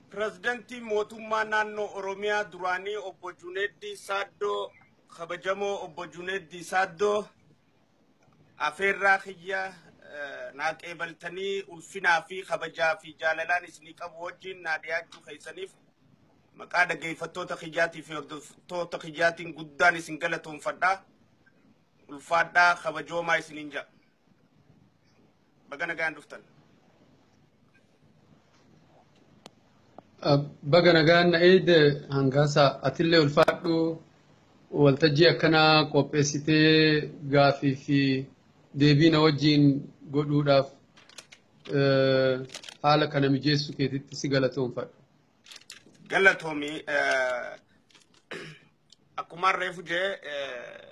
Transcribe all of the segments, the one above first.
Pirezidantiin mootummaa naannoo Oromiyaa duraanii obbo Juneeddii Saaddoo kabajamoo obbo Juneeddii Saaddoo afeerraa kiyya eh, naa qeebaltanii ulfinaa fi kabajaa fi jaalalaan isinii qabu wajjin naa dhiyaachuu keessaniif maqaa dhaggeeffattoota kiyyaatii fi hordoftoota kiyyaatiin guddaan isin galatoomfadha. Ulfaadhaa kabajoomaa isiniin jedha. Baga nagaan dhuftan. Baga nagaan na eegde hangaasa atillee ulfaadhu waltajjii akkanaa qopheessitee gaafii fi deebii na wajjin godhuudhaaf eh, haala kana mijeessu keetitti si galatoomfadha. Galatoomi. eh, Akkuma reefu jee eh,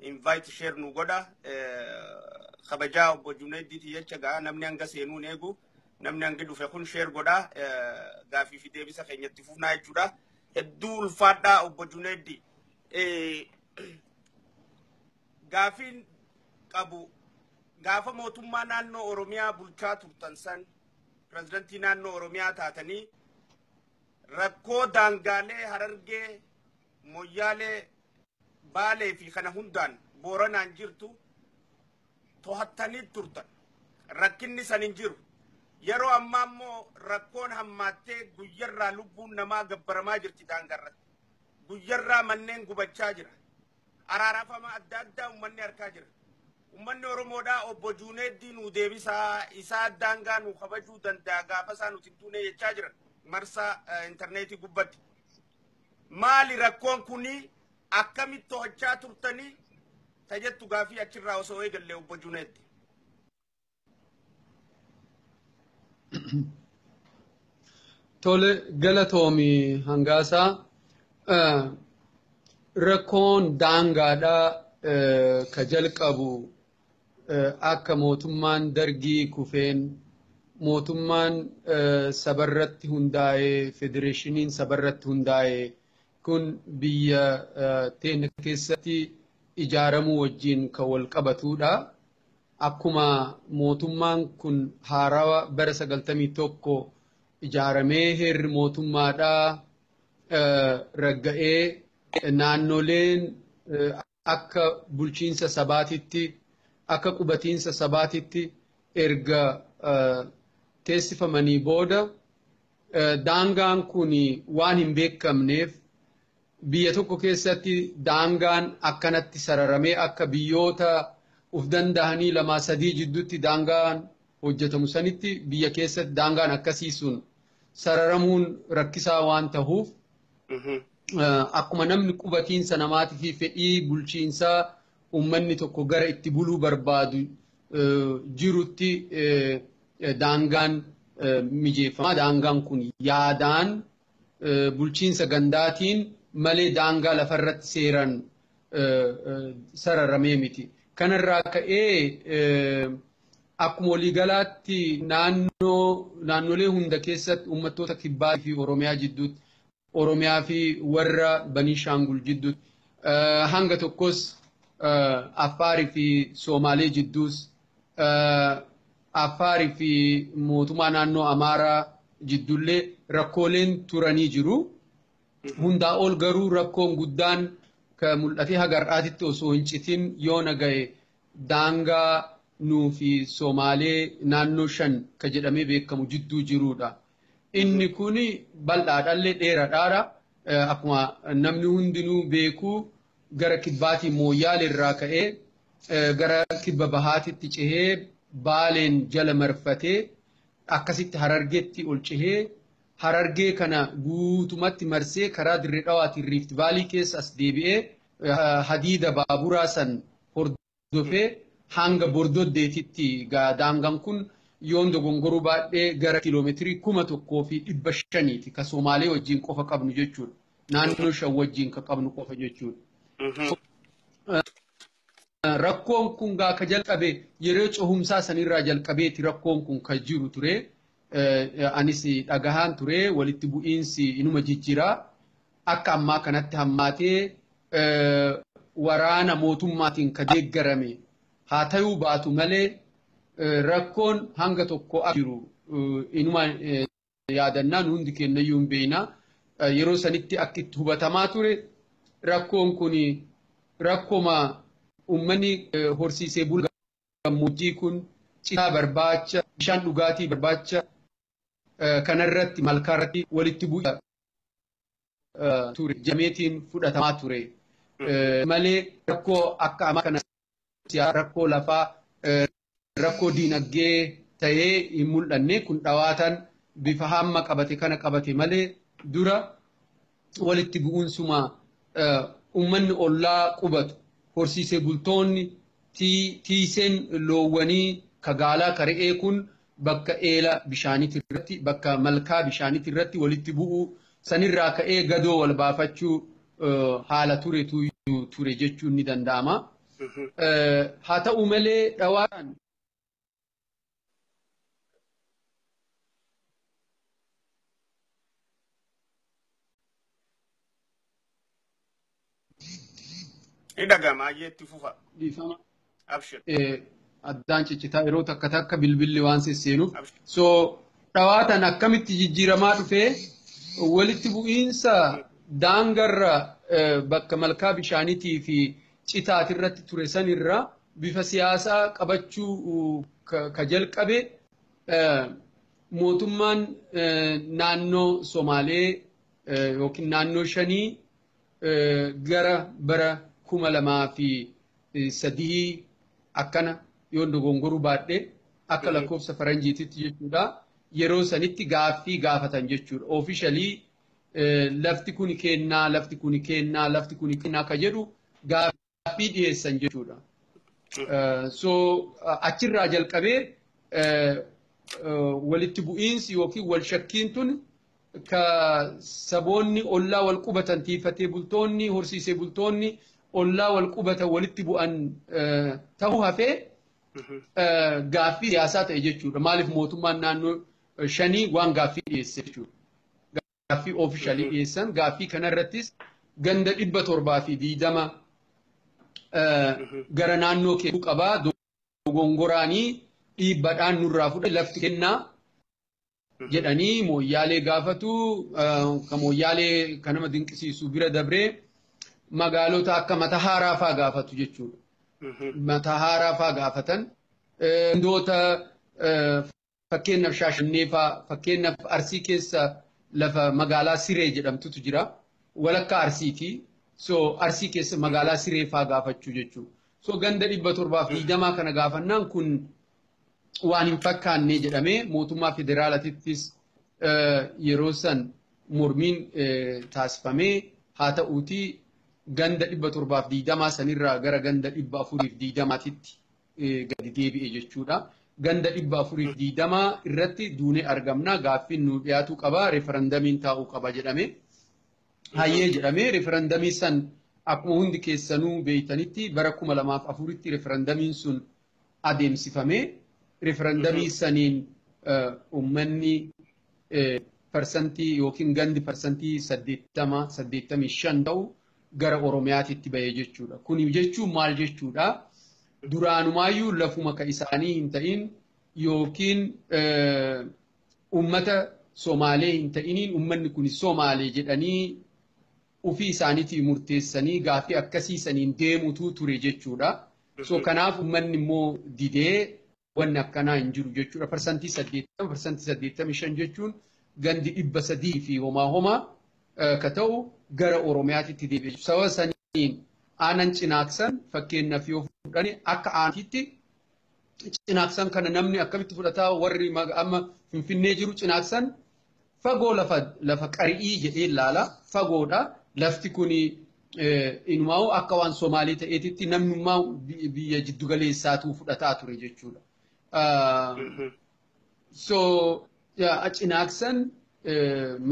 invite share nu godha kabajaa obbo Junayddiiti jecha gaa namni hanga seenuu hin eegu namni hangi dhufe kun share godha gaafii fi deebisa keenyatti fufnaa jechuudha hedduu ulfaadhaa obbo Junayddi gaafiin qabu gaafa mootummaa naannoo Oromiyaa bulchaa turtan san pirezidantii naannoo Oromiyaa taatanii rakkoo daangaalee harargee moyyaalee Baalee fi kana hundaan Booranaan jirtu tohattanii turtan. Rakkinni san hin jiru. Yeroo ammaa immoo rakkoon hammaattee guyyarraa lubbuun namaa gabbaramaa jirti daangarratti. Guyyarraa manneen gubachaa jira. Araarafama adda addaa uummanni harkaa jira. Uummanni Oromoodhaa obbo Juuneeddii nuu deebisaa isaa daangaa nuu kabajuu danda'a gaafa isaa nuti hin duune jechaa jiran marsaa intarneetii gubbatti. Maali rakkoon kunii akkamitti to'achaa turtanii ta jettu gaafii achirraa osoo eegalle obbo Juneeddi. Tole galatoomi hangaasaa rakkoon daangaadhaa ka jalqabu akka mootummaan dargii kufeen mootummaan sabarratti hundaa'e federeeshiniin sabarratti hundaa'e kun biyya teenya keessatti ijaaramuu wajjin kan wal qabatudha. Akkuma mootummaan kun haarawa bara sagaltamii tokko ijaaramee heerri mootummaadhaa ragga'ee naannoleen akka bulchiinsa sabaatitti akka qubatiinsa sabaatitti erga teessifamanii booda daangaan kun waan hin beekamneef biyya tokko keessatti daangaan akkanatti sararamee akka biyyoota uf danda'anii lamaa sadii jidduutti daangaan hojjetamu sanitti biyya keessatti daangaan akkasii sun sararamuun rakkisaa waan tahuuf akkuma namni qubatiinsa namaatii fi fedhii bulchiinsaa uummanni tokko gara itti buluu barbaadu jirutti daangaan mijeeffama. Daangaan kun yaadaan bulchiinsa gandaatiin malee daangaa lafarratti seeraan sararamee miti. Kanarraa ka'ee akkuma waliigalaatti naannoo naannolee hunda keessatti uummattoota kibbaa fi Oromiyaa jidduutti Oromiyaa fi warra Baniishaangul jidduutti hanga tokkos Affaarii fi Soomaalee jidduus Affaarii fi mootummaa naannoo Amaaraa jidduullee rakkooleen turanii jiru. Hundaa ol garuu rakkoon guddaan ka mul'atee haga har'aatitti osoo hin citin yoona gahe daangaa nuu fi Somaalee naannoo shan ka jedhamee beekamu jidduu jiruudha. Inni kun bal'aadhallee dheeradhaadha. Akkuma namni hundinuu beeku gara kibbaatiin Mooyyaale irraa ka'ee gara kibba bahaatitti cehee Baaleen jala marfatee akkasitti Harargetti ol cehee Harargee kana guutumatti marsee karaa Dirre Dhawaatiin Riifti Vaalii keessa as deebi'ee hadiida baaburaa san hordofee hanga Bordoddeetitti gaa daangaan kun yoon dogongoruu baadhee gara kiiloomeetirii kuma tokkoo fi dhibba shaniiti ka Somaalee wajjin qofa qabnu jechuudha. Naannoo shan wajjin ka qabnu qofa jechuudha. Rakkoon kun gaa ka jalqabe yeroo cohumsaa sanirraa jalqabeeti rakkoon kun ka jiru ture. Anis dhagahaan ture walitti bu'iinsi inuma jijjira. Akka ammaa kanatti hammaatee waraana mootummaatiin ka deeggarame haa tayuu baatu malee rakkoon hanga tokko jiru inuma yaadanna nu hundi keenyayyuu hin beekna yeroo sanitti akka itti hubatamaa ture rakkoon kun rakkoma uummanni horsiisee bulaa gammoojjii kun citaa barbaacha bishaan dhugaatii barbaacha kanarratti malkaarratti walitti bu'aa ture jameetiin fudhatamaa ture malee rakkoo akka amma kana rakkoo lafaa rakkoo diinagdee ta'ee hin mul'anne kun dhawaataan bifa hamma qabate kana qabate malee dura walitti bu'uunsuma ummanni ollaa qubatu horsiisee bultoonni tiiseen loowwanii ka gaalaa ka re'ee kun bakka eela bishaaniti irratti bakka malkaa bishaaniti irratti walitti bu'uu sanirraa ka'ee gadoo wal baafachuu haala turetu ture jechuun ni danda'ama. Haa ta'u malee dhawaan Ni dhaga'ama ayyee itti fufa. Dhiifama. Abshir. Eh, addaan ciccitaa yeroo takka takka bilbilli waan sesseenuuf. Abshir. So dhawaatan akkamitti jijjiiramaa dhufee walitti bu'iinsa daangarra eh, bakka malkaa bishaaniitii fi citaati irratti ture sanirra bifa siyaasaa qabachuu uh, ka ka jalqabe eh, mootummaan eh, naannoo Somaalee eh, yookiin naannoo shanii gara bara kuma lamaa fi sadii akkana yoon dogongoruu baadhe akka lakkoofsa faranjiititti jechuudha. Yeroo sanitti gaaffii gaafatan jechuudha. Oofishalii lafti kun kennaa, lafti kun kennaa, lafti kun kennaa akka jedhu gaaffii. gaaffii dhiyeessan jechuudha. So achirraa jalqabee walitti bu'iinsi yookiin wal shakkiin tun ka saboonni ollaa wal qubatan tiifatee bultoonni horsiisee bultoonni ollaa wal qubatan walitti bu'an ta'uu hafee gaaffii siyaasaa ta'e jechuudha. Maaliif mootummaan naannoo shanii waan gaaffii dhiyeesse jechuudha. gaaffii oofishaalii dhiyeessan gaaffii kanarrattis ganda dhibba torbaa fi diidama gara naannoo kennuu qabaa dogongoraanii dhiibbadhaan nurraa fudhate lafti kennaa jedhanii mooyyaalee gaafatu ka mooyyaalee kan nama dinqisiisu bira dabree magaalota akka mata haaraa faa gaafatu jechuudha. Mata haaraa faa gaafatan. Gandoota Fakkeenyaaf Shaashannee faa, fakkeenyaaf Arsii keessa lafa magaalaa Siree jedhamtutu jira. Walakkaa Arsiiti. So Arsii keessa magaalaa Siree faa gaafachuu jechuu. So ganda dhibba torbaaf digdamaa kana gaafannaan kun waan hin fakkaannee jedhamee mootummaa federaalatittis yeroo san mormiin taasifamee haa ta'uutii ganda dhibba torbaaf digdamaa sanirraa gara ganda dhibba afuriif digdamaatitti gadi deebi'e jechuudha. Ganda dhibba afurii fi digdama irratti duunee argamna gaaffiin nu dhiyaatuu qaba referandamiin taa'uu qaba jedhame. Hayyee jedhame referandamii san akkuma hundi keessanuu beeytanitti bara kuma lamaaf afuritti referandamiin sun adeemsifame. Referandamii saniin uummanni parsantii yookiin gandi parsantii saddeettama saddeettamii shan ta'u gara Oromiyaatitti bahe jechuudha. Kuni jechuun maal jechuudha? Duraanumaayyuu lafuma ka isaanii hin ta'in yookiin uummata Somaalee hin ta'iniin uummanni kuni Somaalee jedhanii ofii isaaniitii murteessanii gaaffii akkasii saniin deemutu ture jechuudha. So kanaaf uummanni immoo didee wanni akkanaa hin jiru jechuudha. Parsantii 80 parsantii 85 jechuun gandi dhibba sadii fi homaa homaa ka ta'u gara Oromiyaatitti deebi'e jechuudha. Sababa saniin aanan cinaaksan fakkeenyaaf yoo fudhani akka aanaatti cinaaksan kana namni akkamitti fudhataa warri amma Finfinnee jiru cinaaksan Fagoo lafa lafa qari'ii jedhee ilaala. Fagoodha. Lafti kun inumaa'u akka waan Somaalii ta'eetitti namnummaa biyya jiddu galeessaatuu fudhataa ture jechuudha. So cinaaksan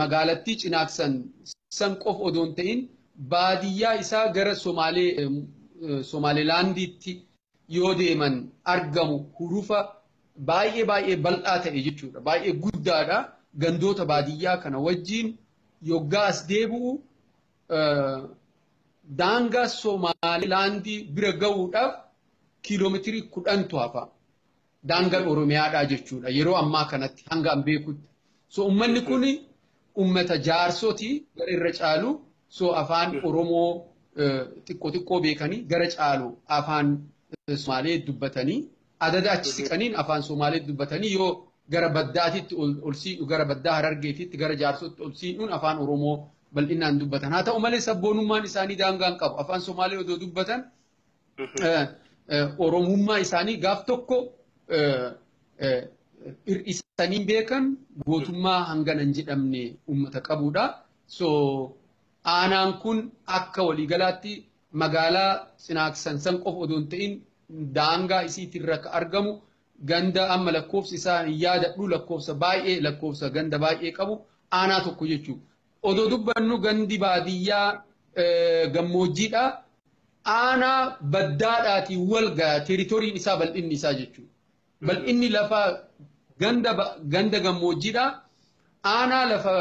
magaalattii cinaaksan san qof odoon ta'in baadiyyaa isaa gara Somaalee Somaalilaandiitti yoo deeman argamu hurufa baay'ee baay'ee bal'aa ta'e jechuudha. Baay'ee guddaadha. Gandoota baadiyyaa kana wajjin yoggaa as deebi'u daangaa Somaalilaandii bira ga'uudhaaf kiiloomeetirii kudhantu hafa. daangaan Oromiyaadhaa jechuudha. Yeroo ammaa kanatti hanga an beekutti. So uummanni kun uummata jaarsoti gara irra caalu so afaan Oromoo xiqqoo xiqqoo beekanii gara caalu afaan Somaalee dubbatanii adada achi siqaniin afaan Somaalee dubbatanii yoo gara baddaatitti ol siidhu gara baddaa harargeetitti gara jaarsootti ol siidhuun afaan Oromoo bal'inaan dubbatan. Haa ta'u malee sabboonummaan isaanii daangaan qabu. Afaan Somaalee odoo dubbatan Oromummaa isaanii gaaf tokko hir'isanii beekan gootummaa hangana hin jedhamne uummata qabudha. So aanaan kun akka waliigalaatti magaalaa Sinaaksan san qofa odoo hin ta'in daangaa isiitirra akka argamu ganda amma lakkoofsi isaa hin yaadadhu lakkoofsa baay'ee lakkoofsa ganda baay'ee qabu aanaa tokko jechuudha. Odoo dubbannu gandi baadiyyaa gammoojjiidha. Aanaa Baddaadhaatiin walgaha teritoriin isaa bal'inni isaa jechuudha. Bal'inni lafa ganda gammoojjiidha. Aanaa lafa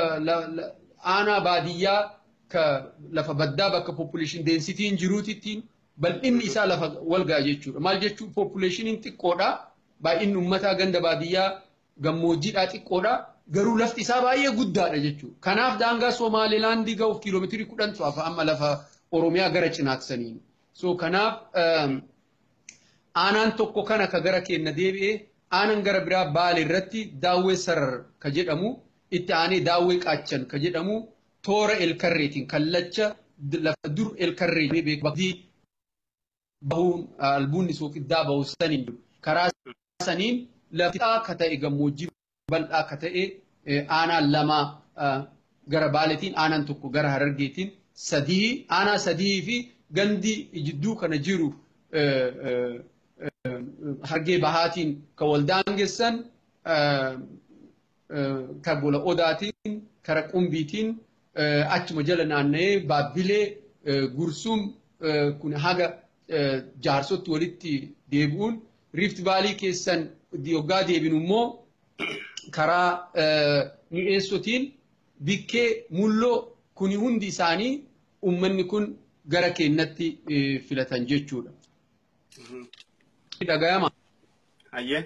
aanaa baadiyyaa ka lafa baddaa bakka population densityin jiruutittiin bal'inni isaa lafa walgaha jechuudha. Maal jechuu populationiin xiqqoodha. Baay'inni ummataa ganda baadiyyaa gammoojjiidhaa xiqqoodha. Garuu lafti isaa baay'ee guddaadha jechuudha. Kanaaf daangaa Somaalilaandii ga'uuf kiiloomeetirii kudhan tu'afa amma lafa Oromiyaa gara cinaatti saniin. So kanaaf aanaan tokko kana ka gara keenna deebi'e aanan gara biraa baale irratti daawwee sarar ka jedhamu itti aanee daawwee qaachan ka jedhamu toora elkarreetiin kallacha lafa dur elkarree beeku bahuun albuunni sooqiddaa bahu saniin jiru. Karaa saniin lafti akka ta'e gammoojjii bal'aa akka ta'e aanaan lama gara baaletiin aanaan tokko gara harargeetiin sadii aanaa sadii fi gandi jidduu kana jiru hargee bahaatiin kan wal daangessan ka gola odaatiin kara qumbiitiin achuma jala naanna'ee baabbilee gursuum kun haga jaarsotti walitti deebi'uun riift vaalii keessan yoggaa deebinu immoo karaa mi'eessotiin bikkee mulloo kuni hundi isaanii ummanni kun gara keennatti filatan jechuudha. Dhagayama. Hayyee.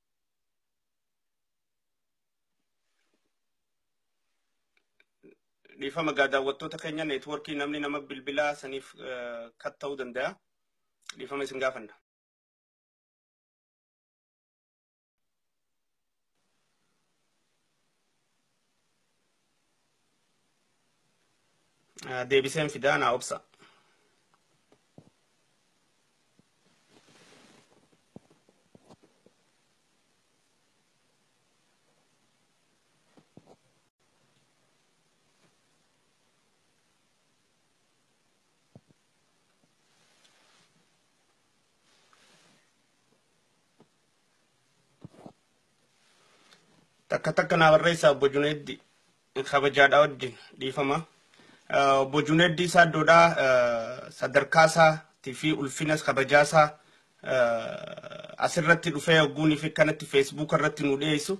dhiifama gaa daawwattoota keenya neetwoorkii namni nama bilbilaa saniif kat ta'uu danda'a. Dhiifama isin gaafanna. deebiseen fidaa naa obsa. takka takka naa barreessaa obbo Juneeddi kabajaadhaa wajjin dhiifama. Eh, Obbo Juneeddi isaa iddoodhaa eh, sadarkaa isaatii fi ulfinas kabajaa isaa eh, asirratti dhufee ogguunii fi kanatti feesbuuka irratti nu dhiyeessu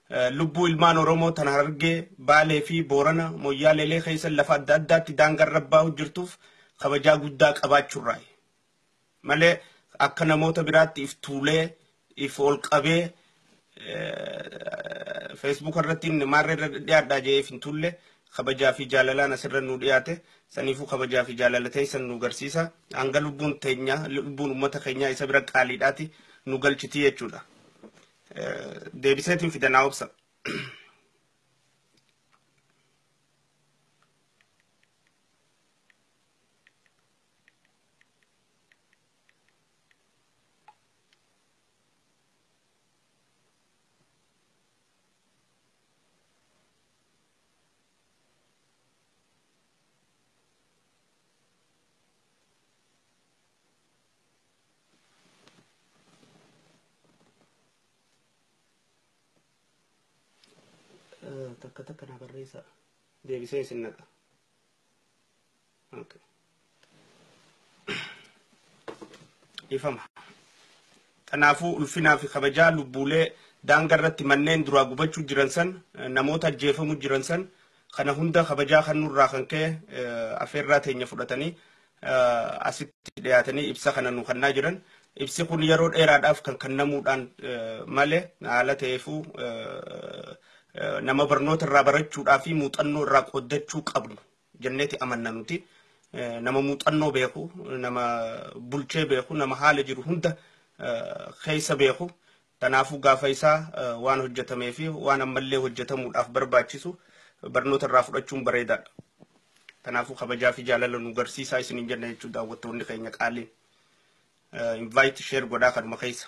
eh, lubbuu ilmaan Oromoo tan hargee Baalee fi Boorana Moyyaaleelee keessa lafa adda addaatti daangaa irra baa'u jirtuuf kabajaa guddaa qabaachuurraayi. malee akka namoota biraatti if tuulee if ol qabee feesbuuka irratti maarree irra dhiyaadhaa jee if hin tuulle kabajaa fi jaalalaan asirra nu dhiyaate saniifuu kabajaa fi jaalala teessan nu garsiisa hanga lubbuun teenya lubbuun uummata keenyaa isa bira qaaliidhaati nu galchitii jechuudha. Deebiseetiin fidanaa obsa. takka takka na barreessa deebisee isin naqa Okay. Ifama. Kanaafuu ulfinaa fi kabajaa lubbuulee daanga irratti manneen duraa gubachuu jiran san eh, namoota ajjeefamu jiran san kana hunda kabajaa kan nurraa kan ka'e eh, afeerraa teenya fudhatanii asitti dhiyaatanii ibsa kana nu kennaa jiran. Ibsi kun yeroo dheeraadhaaf kan kennamuudhaan malee haala ta'eefuu nama barnoota irraa barachuudhaa fi muuxannoo irraa qooddachuu qabnu jenneeti amanna nuti. Nama muuxannoo beeku, nama bulchee beeku, nama haala jiru hunda keessa beeku Kanaafuu gaafa isaa waan hojjetamee fi waan ammallee hojjetamuudhaaf barbaachisu barnoota irraa fudhachuun bareedaadha. Kanaafuu kabajaa fi jaalala nu garsiisaa isiniin jenna jechuudha daawwattoonni keenya qaaliin. Invite share godhaa kanuma keessa.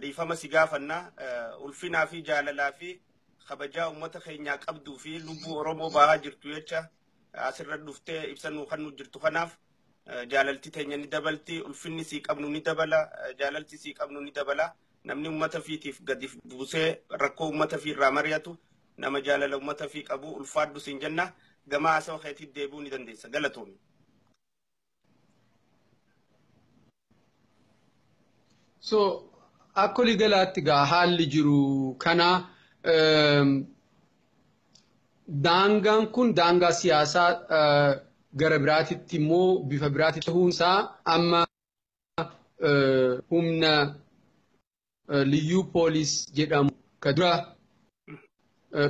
Dhiifama si gaafanna ulfinaa fi jaalalaa fi kabajaa uummata keenyaa qabduu fi lubbuu Oromoo baahaa jirtu jecha asirra dhuftee ibsa nuu kan nu jirtu kanaaf jaalalti teenya ni dabalti ulfinni sii qabnu ni dabala jaalalti sii qabnu ni dabala namni uummata fiitiif gadi buusee rakkoo uummata fi irraa mari'atu nama jaalala uummata fi qabu ulfaadhu siin jenna gamaa haasawaa keetiif deebi'uu ni dandeessa galatoomi. So akka olii galaatti gaa haalli jiru kana daangaan kun daangaa siyaasaa gara biraatitti immoo bifa biraatti ta'uunsaa amma humna liyyuu poolis jedhamu ka dura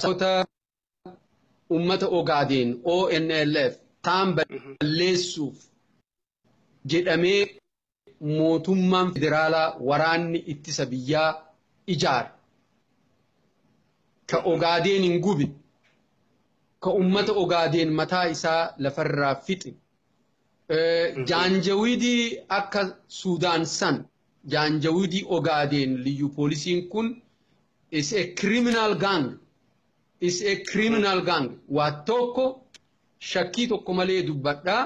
soota ummata ogaadeen ONLF taan balleessuuf jedhamee mootummaan federaalaa waraanni ittisa biyyaa ijaare ka ogaadeen hin gube ka ummata ogaadeen mataa isaa lafarraa fixe Jaanjawidii akka Suudaan san Jaanjawidii Ogaadeen liyyu poolisiin kun is a criminal gang is a criminal gang waa tokko shakkii tokko malee dubbadha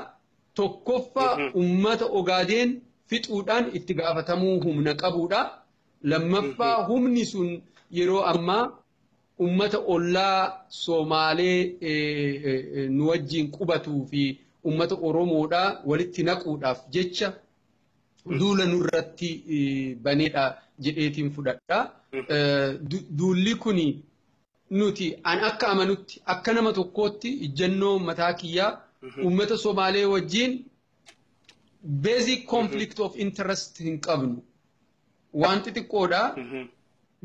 tokkoffaa ummata Ogaadeen fixuudhaan itti gaafatamuu humna qabuudha lammaffaa humni sun yeroo ammaa Ummata ollaa Somaalee nu wajjiin qubatuu fi ummata Oromoodha walitti naquudhaaf jecha duula nurratti baneedha jedheetiin fudhadha. Duulli kun nuti an akka amanutti akka nama tokkootti ijjannoo mataa kiyyaa ummata Somaalee wajjiin basic conflict of interest hin qabnu. waan xixiqqoodha.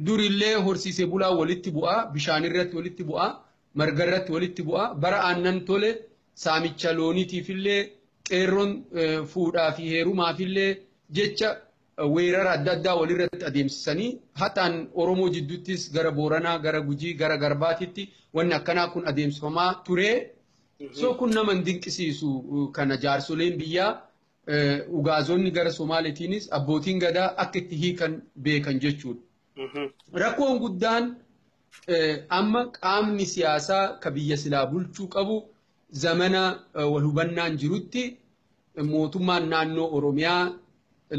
Durillee horsiisee bulaa walitti bu'aa, bishaan irratti walitti bu'aa, marga irratti walitti bu'aa, bara aannan tole saamicha looniitiifillee qeerroon fuudhaa fi heerumaafillee jecha weerara adda addaa walirratti adeemsisanii haxaan Oromoo jidduuttis gara Booranaa, gara Gujii, gara Garbaatitti wanni akkanaa kun adeemsifamaa ture. So kun nama hin dinqisiisu kana jaarsoleen biyyaa Ugaazonni gara Somaaleetiinis abbootiin gadaa akka itti hiikan beekan jechuudha. Rakkoon guddaan amma qaamni siyaasaa ka biyya silaa bulchuu qabu zamana wal hubannaan jirutti mootummaan naannoo Oromiyaa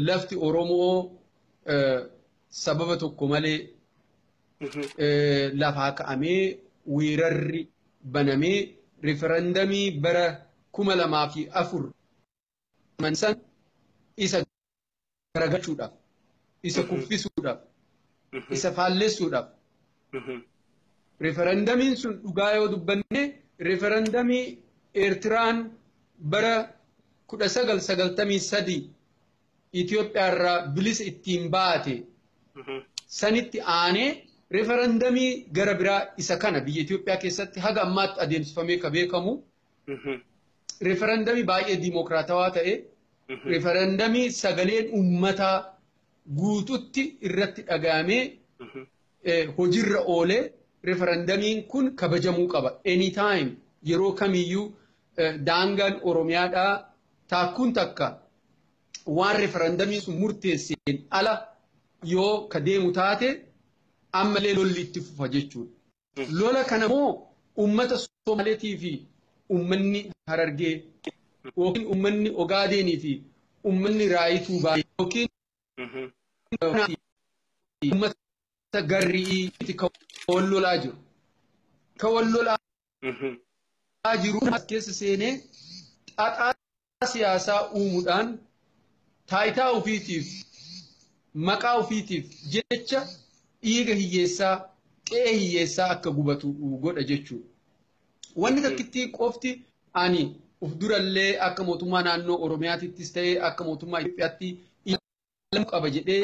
lafti Oromoo sababa tokko malee lafaa ka'amee weerarri banamee riferandamii bara kuma lamaa fi afur aman san isa garagalchuudhaaf isa kuffisuudhaaf isa faallessuudhaaf referendamiin sun dhugaa yoo dubbanne referendamii Eertiraan bara 1993 Itoophiyaa irraa bilisa ittiin baate sanitti aanee referendamii gara biraa isa kana biyya Itoophiyaa keessatti haga ammaatti adeemsifamee ka beekamu Referendamii baay'ee diimokiraatawaa ta'e referendamii sagaleen uummataa guututti irratti dhagahamee hojiirra oolee referendamiin kun kabajamuu qaba. Anytime yeroo kamiyyuu daangaan Oromiyaadhaa taakkuun takka waan referendamiin sun murteesseen ala yoo ka deemu taate ammallee lolli itti fufa jechuudha. Lola kana moo ummata Somaaleetii fi ummanni Harargee yookiin ummanni Ogaadeenii fi ummanni Raayituu Baalee yookiin ummata Garri'iiti kan wal lolaa jiru. Kan wal lolaa jiru as keessa seenee xaxaa siyaasaa uumudhaan taayitaa ofiitiif maqaa ofiitiif jecha dhiiga hiyyeessaa qe'ee hiyyeessaa akka gubatu godha jechuudha. Wanni takkittii qofti ani of durallee akka mootummaa naannoo Oromiyaatittis ta'ee akka mootummaa Itoophiyaatti ilaalamuu qaba jedhee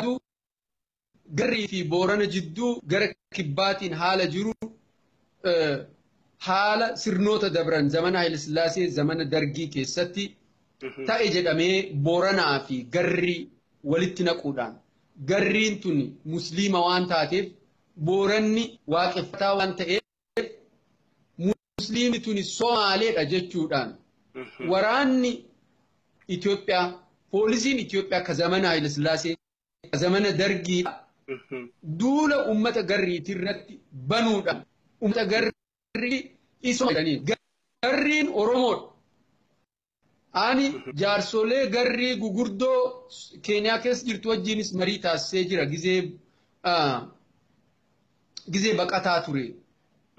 Garrii fi Boorana jidduu gara kibbaatiin haala jiru haala sirnoota dabran zamana Hayilasillaasee zamana Dargii keessatti ta'e jedhamee Booranaa fi Garrii walitti naquudhaan Garriin tun Musliima waan taateef Booranni waaqeffataa waan ta'eef Musliimni tuni Somaaleedha jechuudhaan waraanni Itoophiyaa poolisiin Itoophiyaa ka zamana Hayilasillaasee zamana dargiidha. Duula uummata garriitii irratti banuudhaan uummata garrii isoo jedhanii garriin Oromoodha. Ani jaarsolee garrii gugurdoo Keeniyaa keessa jirtu wajjinis marii taasisee jira gizee gizee baqataa ture.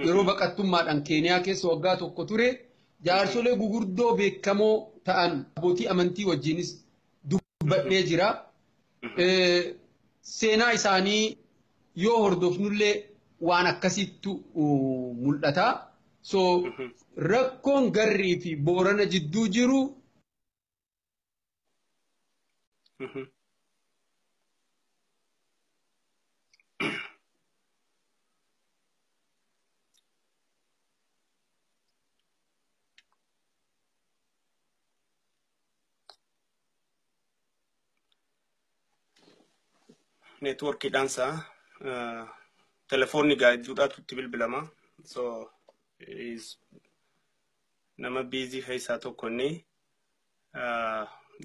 Yeroo baqattummaadhaan Keeniyaa keessa waggaa tokko ture jaarsolee gugurdoo beekamoo ta'an abbootii amantii wajjinis dubbadhee jira. Seenaa isaanii yoo hordofnullee waan akkasiittu mul'ata. So rakkoon garrii fi boorana jidduu jiru networkiidhaan isaa telefoonni gaajjuudhaatu itti bilbilama. So is nama biizii keessaa tokko inni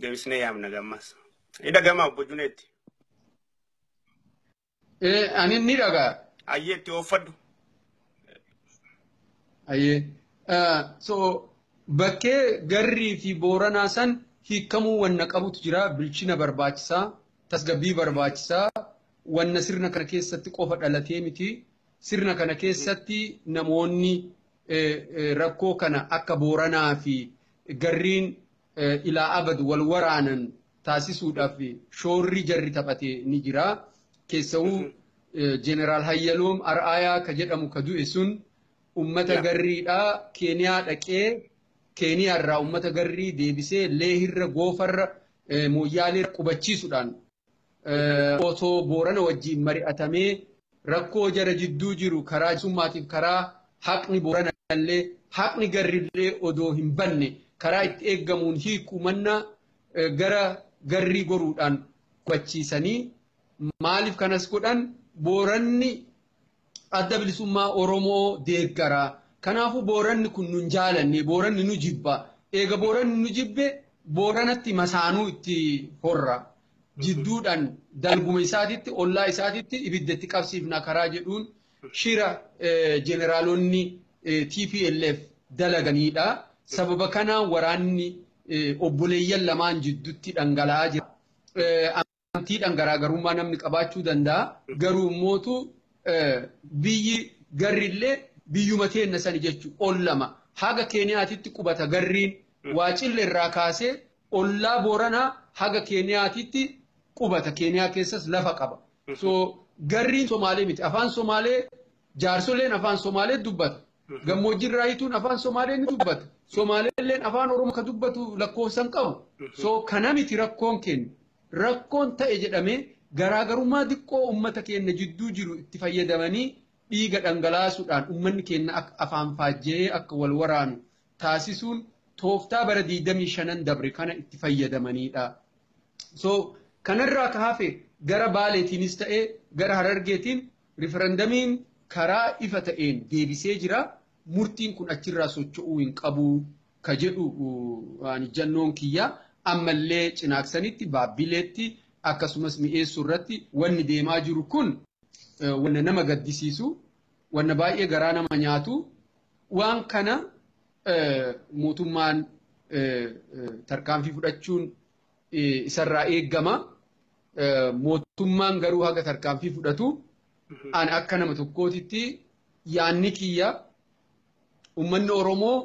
deebisnee yaamna gammas. Hidha gamaa obbo Juneetti. Eh, ani ni dhagaa. Ayyee itti ooffadhu. Ayyee. Eh, so bakkee garrii fi booranaa san hiikamuu wanna qabutu jira. Bilchina barbaachisaa, tasgabbii barbaachisaa, wanna sirna kana keessatti qofa dhalatee miti. Sirna kana keessatti namoonni eh, eh, rakkoo kana akka booranaa fi garriin ilaa abad wal waraanan taasisuudhaaf shoorri jarri taphate ni jira. Keessawuu Jeneraal Hayyaloom Ar'aayaa ka jedhamu ka du'e sun ummata garriidha Keeniyaa dhaqee Keeniyaa irraa ummata garrii deebisee Leehirra Goofarra Mooyyaaleerra qubachiisuudhaan otoo Boorana wajjin mari'atamee rakkoo jara jidduu jiru karaa jisummaatiif karaa haqni Boorana illee haqni garri illee odoo hin banne karaa itti eeggamuun hiikuu mannaa gara garrii goruudhaan hubachiisanii maaliif kanas godhan Booranni adda bilisummaa Oromoo deeggara. Kanaafuu Booranni kun nun jaalanne, Booranni nu jibba. Eega Booranni nu jibbe Booranatti masaanuu itti horra. Jidduudhaan dalguma isaatitti, ollaa isaatitti ibidda itti qabsiifna karaa jedhuun shira jeneraalonni TPLF dalaganiidha. Sababa kanaan waraanni obboleeyyan lamaan jidduutti dhangala'aa jira. Amantiidhaan garaagarummaa namni qabaachuu danda'a. Garuu immootu biyyi garri illee biyyuma teenna sani jechuun ollama. Haga Keeniyaatitti qubata garriin waacille irraa kaasee ollaa Booranaa haga Keeniyaatitti qubata. Keeniyaa keessas lafa qaba. So garriin Somaalee miti. Afaan Somaalee jaarsoleen afaan Somaalee dubbata. Gammoojjiirraa hiituun afaan Somaalee ni dubbata. Somaaleelleen afaan Oromoo ka dubbatu lakkoofsan qabu. So kana miti rakkoon keenna. Rakkoon ta'e jedhamee garaagarummaa diqqoo ummata keenna jidduu jiru itti fayyadamanii dhiiga dhangalaasuudhaan ummanni keenna akka afaan faajja'ee akka wal waraanu taasisuun tooftaa bara 25n dabre kana itti fayyadamaniidha. So kanarraa ka hafe gara Baaleetiinis ta'ee gara Harargeetiin Rifarandamiin karaa ifa ta'een deebisee jira, murtiin kun achirraa socho'uu hin qabu ka jedhu an ijjannoon kiyya. Ammallee Cinaaksanitti, Baabbileetti akkasumas Mi'eessoo irratti wanni deemaa jiru kun wanna nama gaddisiisu, wanna baay'ee garaa nama nyaatu, waan kana mootummaan tarkaanfii fudhachuun isarraa eegama. Mootummaan garuu haga tarkaanfii fudhatu an akka nama tokkootitti yaanni kiyya uummanni Oromoo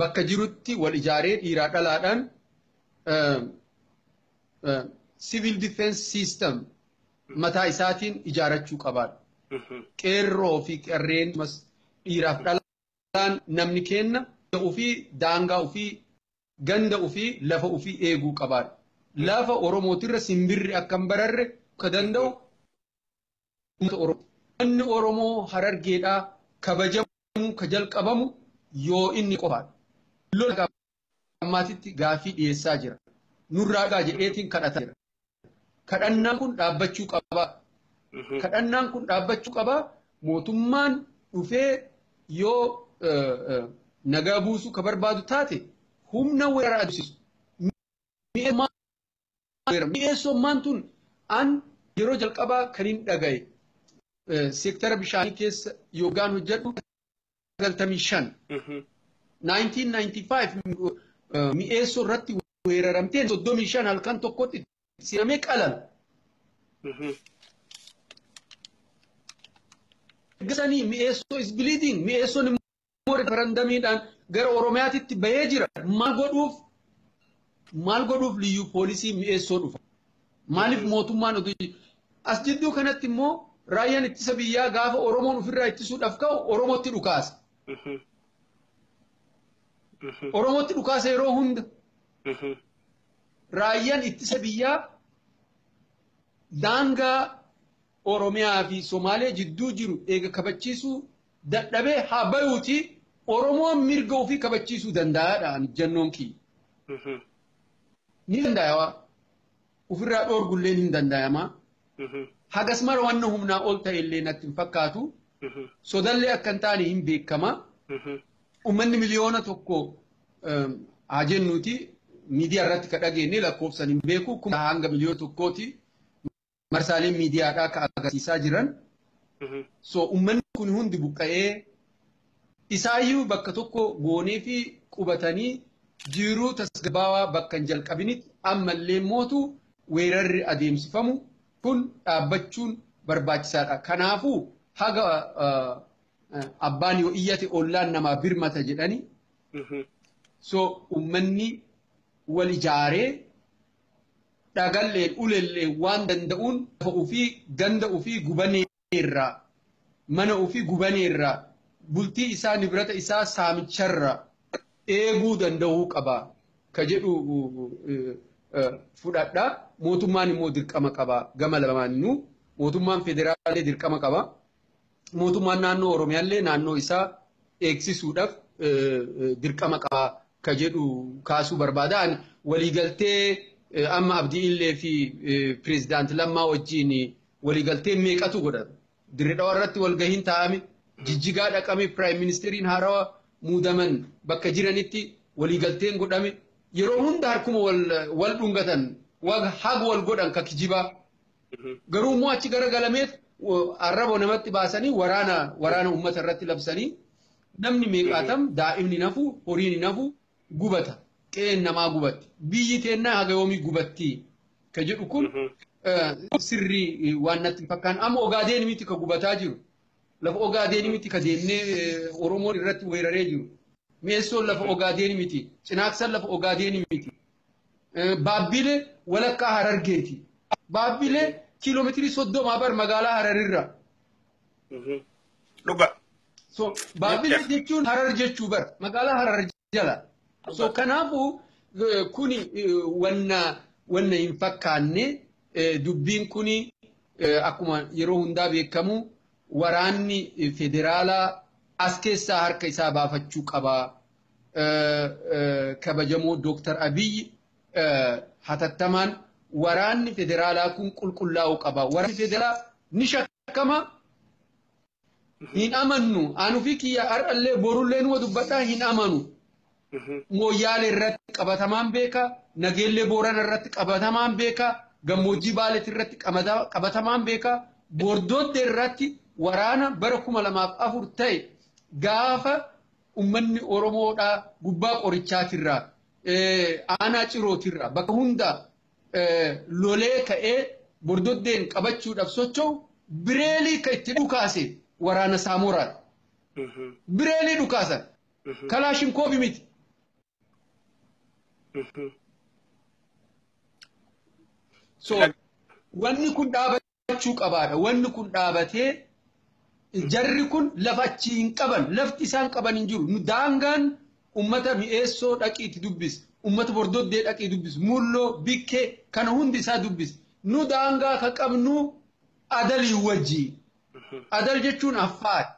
bakka jirutti wal ijaaree dhiiraa dhalaadhaan civil defense system mataa isaatiin ijaarachuu qabaadha. Qeerroo fi qarreen dhiiraaf dhalaan namni kenna ofii daangaa ofii ganda ufii, lafa ufii eeguu qabaan. Lafa Oromootirra simbirri akka hin bararre ka danda'u uummata Oromooti. Manni Oromoo Harargeedhaa kabajamuu ka jalqabamu yoo inni qofaadha. Lola hanga ammaatitti gaaffii dhiyeessaa jira. Nurraa dhugaa jedheetiin kadhataa jira. Kadhannaan kun dhaabbachuu qabaa. Kadhannaan kun dhaabbachuu qabaa. Mootummaan dhufee yoo nagaa buusuu ka barbaadu taate humna weerara adeemsisu. Mi'eessummaan tun an yeroo jalqabaa kan hin dhagaye seektara bishaanii keessa yookaan hojjedhu 95 1995 eh, mi'eessoo irratti weeraramtee 35 halkan tokkotti si'amee qalan. Gasanii mi'eessoo is bleeding mi'eessoon immoo referendamiidhaan gara Oromiyaatitti bahee jira. Maal godhuuf Maal godhuuf liyyuu poolisii mi'eessoo dhufa? Maaliif mootummaan oduu as jidduu kanatti immoo raayyaan ittisa biyyaa gaafa Oromoon ofirraa ittisuudhaaf ka'u Oromootti dhukaasa. Oromootti dhukaasa yeroo hunda raayyaan ittisa biyyaa daangaa Oromiyaa fi Somaalee jidduu jiru eega kabachiisuu dadhabee haa bayuutii Oromoon mirga ofii kabachiisuu danda'a dha ani ijjannoon kiyya. Ni dandaayawa. Ofirraa dhoorgulleen hin dandaayamaa. Hagas mara wanna humnaa ol ta'e illee natti hin fakkaatu. Sodallee akka hin taane hin beekama. Ummanni miliyoona tokko haa jennuuti miidiyaa irratti ka dhageenye lakkoofsan hin beeku kuma hanga miliyoona tokkooti. marsaaleen miidiyaadhaa akka agarsiisaa jiran. So uummanni kun hundi buqqa'ee isaayyuu bakka tokko goonee fi qubatanii jiruu tasgabbaawaa bakka hin jalqabinitti ammallee mootu weerarri adeemsifamu kun dhaabbachuun barbaachisaadha. Kanaafuu haga abbaan yoo iyyate ollaan namaa birmata jedhanii so uummanni wal ijaaree dhagalleen, ulelleen waan danda'uun lafa ufii, ganda ufii gubaneerraa, mana ufii gubaneerraa, bultii isaa, nibrata isaa saamicharraa eeguu danda'uu qaba ka jedhu fudhadha. Mootummaan immoo dirqama qaba gama lamaanuu. Mootummaan federaallee dirqama qaba. Mootummaan naannoo Oromiyaallee naannoo isaa eegsisuudhaaf dirqama qaba ka jedhu kaasuu barbaada. Ani waliigaltee amma Abdii Illee fi Pireezidaant Lammaa wajjin waliigaltee meeqatu godhame. Dirree Dhawaa irratti walgahiin taa'ame. Jijjigaa dhaqame Piraayim Ministeeriin haarawa muudaman bakka jiranitti waliigalteen godhame. Yeroo hunda harkuma wal dhungatan haga wal godhan ka kijibaa. Garuu immoo achi gara galameet arraba namatti baasanii waraana waraana uummata irratti labsanii namni meeqaatam daa'imni nafu horiin nafu gubata qe'een namaa gubatti biyyi teennaa haga yoomii gubattii ka jedhu kun sirrii waan natti hin fakkaan amma ogaadeen miti ka gubataa jiru lafa ogaadeen miti ka deemnee oromoon irratti weeraree jiru mi'eessoon lafa ogaadeen miti cinaaksan lafa ogaadeen miti Baabbilee walakkaa Harargeeti. Baabbilee kiiloomeetirii soddomaa bar magaalaa Hararirra. Dhuga. So Baabbilee jechuun Harar jechuu bar magaalaa Harar jala. So kanaafuu kuni wanna wanna hin fakkaanne dubbiin kuni akkuma yeroo hundaa beekamu waraanni federaalaa as keessaa harka isaa baafachuu qaba. kabajamoo Dooktar Abiyyi hatattamaan waraanni federaalaa kun qulqullaa'uu qaba. Waraanni federaalaa ni shakkama. Hin amannu. Anu fi kiyya har'allee borullee numa dubbadhaa hin amanu. Mooyyaalee irratti qabatamaan beeka. Nageellee Boorana irratti qabatamaan beeka. Gammoojjii Baaleetti irratti qabatamaan beeka. Bordootti irratti waraana bara kuma lamaaf afur ta'e gaafa ummanni Oromoodhaa gubbaa qorichaatirraa aanaa cirootirraa bakka hundaa lolee ka'ee bordoddeen qabachuudhaaf socho'u bireelii kan itti dhukaase waraana saamoraadha. Bireelii dhukaasan kalaashinkoobi miti. So wanni kun dhaaba dhaabachuu qabaadha. Wanni kun dhaabatee jarri kun lafa achii hin qaban. Lafti isaan qaban hin jiru. Nu daangaan ummata mi'eessoo dhaqiitti dubbis. Ummata bordoddee dhaqii dubbis. Mulloo, bikkee kana hundi isaa dubbis. Nu daangaa ka qabnu adalii wajjii. Adal jechuun affaari.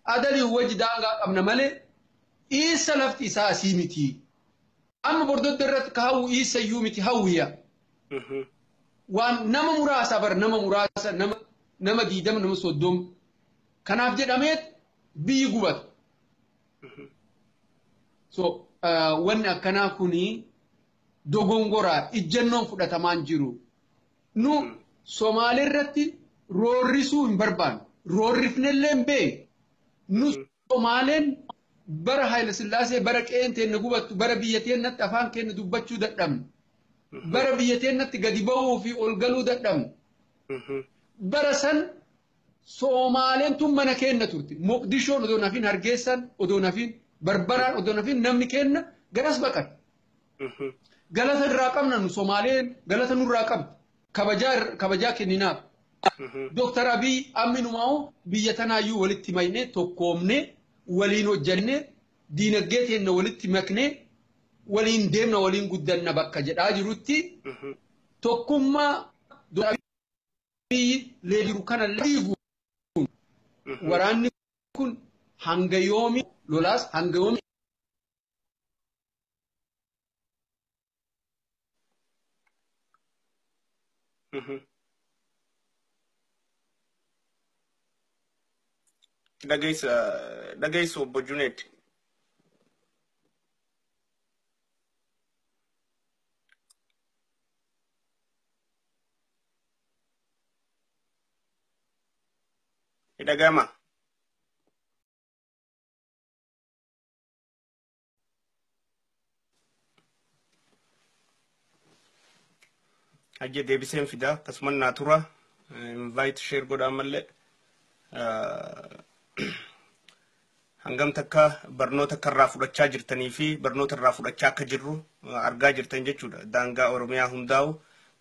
Adalii wajji daangaa qabna malee dhiissa lafti isaa asii miti. Amma bordodda irratti ka hawwu iissa iyyuu miti hawwiya. Waan nama muraasa bar nama muraasa nama nama diidama nama soddoma. Kanaaf jedhameet biyyi gubata. So wanni akkanaa kuni dogongoraa ijjannoon fudhatamaan jiru. Nu Somaalee irratti roorrisuu hin barbaanne. Roorrifnellee hin beekne. Nu Somaaleen Bara Haayila Sillaasee bara qe'een teenna gubattu, bara biyya teennatti afaan keenna dubbachuu dadhabnu, bara biyya teennatti gadi ba'uu fi ol galuu dadhabnu, bara san Soomaaleen tun mana keenna turte. Moqdishoon odoo nafin, Hargeessaan odoo nafin, Barbaraan odoo nafin namni keenna garas baqate. Galata irraa qabna nu Somaaleen galata nurraa qabdi. Kabajaa irra- kabajaa kenninaaf. Dooktar Abiy amminumaa'u biyya tanaayyuu walitti maknee tokkoomnee waliin hojjannee diinagdee teenna walitti maknee waliin deemna waliin guddanna bakka jedhaa jirutti tokkummaa Dooktar Abiy lee jiru kana liigu waraanni kun hanga yoomi lolaas hanga yoomi Dhageessu obbo Juneed. Dhagama. Hayyee deebiseen fidaa akkasumas naa tura invite share godhaa malee hangam takka barnoota akka irraa fudhachaa jirtanii fi barnoota irraa fudhachaa akka jirru argaa jirtan jechuudha. Daangaa Oromiyaa hundaa'u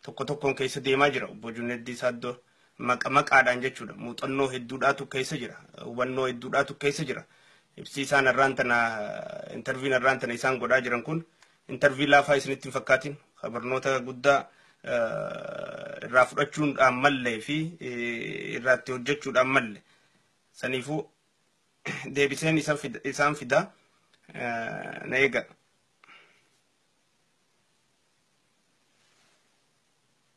tokko tokkoon keessa deemaa jira obbo Juneeddii Saaddoo. maqa maqaadhaan jechuudha. Muuxannoo hedduudhaatu keessa jira. Hubannoo hedduudhaatu keessa jira. Ibsi isaan har'aan tana intarviin har'aan tana isaan godhaa jiran kun intarvii laafaa isinitti hin fakkaatin. Barnoota guddaa irraa fudhachuudhaan mallee fi irraatti hojjechuudhaan malle. Saniifuu deebiseen isaan fidaa na eega.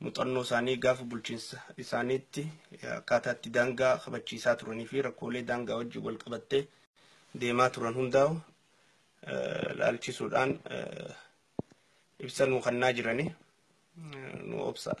muuxannoo isaanii gaafa bulchiinsa isaaniitti akkaataa itti daangaa kabachiisaa turanii fi rakkoolee daangaa wajjin wal qabattee deemaa turan hundaa'u laalchisuudhaan ibsa nuu kennaa jirani nu obsaa.